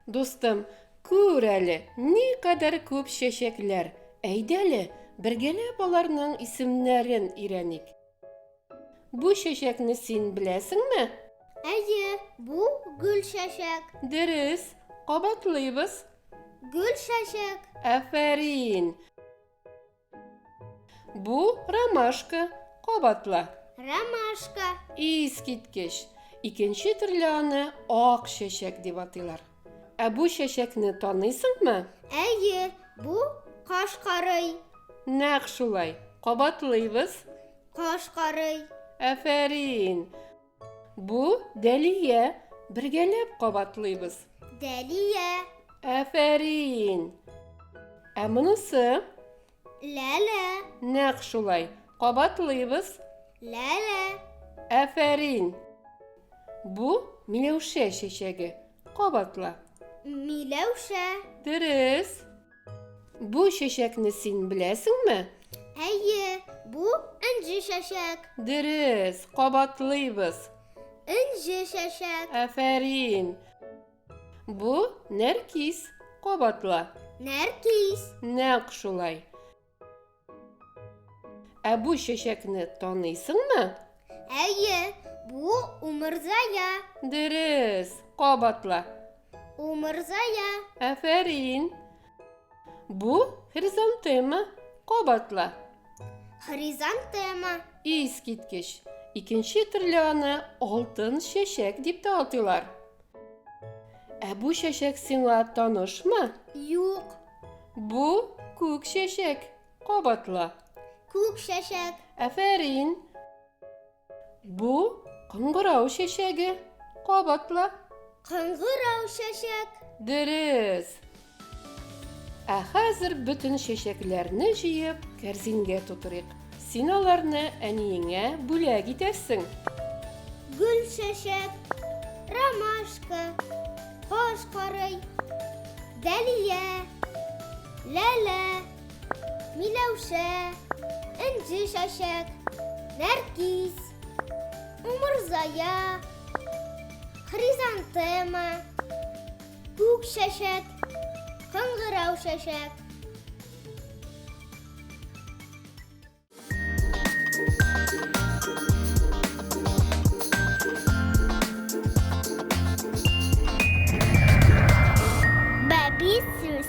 Дустым, күр әле, ни кадәр күп чәчәкләр. Әйдәле, бергәләп аларның исемнәрен өйрәник. Бу чәчәкне син беләсеңме? Әйе, бу гөл чәчәк. Дөрес, кабатлыйбыз. Гөл чәчәк. Афәрин. Бу ромашка, кабатла. Ромашка. Искиткеч. Икенче төрле аны ак чәчәк дип атыйлар. Ә бу чәчәкне таныйсыңмы? Әйе, бу каш карый. Нәкъ шулай. Кабатлыйбыз. Каш карый. Әфәрин. Бу Дәлия. Бергәләп кабатлыйбыз. Дәлия. Әфәрин. Ә монысы? Ләлә. Нәкъ шулай. Кабатлыйбыз. Ләлә. Афәрин. Бу Миләүшә чәчәге. Кабатла. Миләүшә. Дөрес. Бу чәчәкне син беләсеңме? Әйе, бу энҗе чәчәк. Дөрес. Кабатлыйбыз. Энҗе чәчәк. Афәрин. Бу нәркис. Кабатла. Нәркис. Нәкъ шулай. Ә бу чәчәкне таныйсыңмы? Әйе, бу умырзая. Дөрес. Кабатла. Умырзая. Афәрин. Бу хризантема. Кабатла. Хризантема. Искиткеч. Икенче төрле аны алтын чәчәк дип тә атыйлар. Ә бу чәчәк сиңа танышмы? Юк. Бу күк чәчәк. Кабатла. Күк чәчәк. Афәрин. Бу кыңгырау чәчәге. Кабатла. Кыңгырау чәчәк. Дөрес. Ә хәзер бөтен чәчәкләрне җыеп, кәрзингә тутырыйк. Син аларны әниеңә бүләк итәрсең. Гөлчәчәк, ромашка, каш карый, дәлия, ләлә, миләүшә, энҗе чәчәк, нәркис, умырзая, хризантема, Күк чәчәк, кыңгырау чәчәк. Бәбисүз.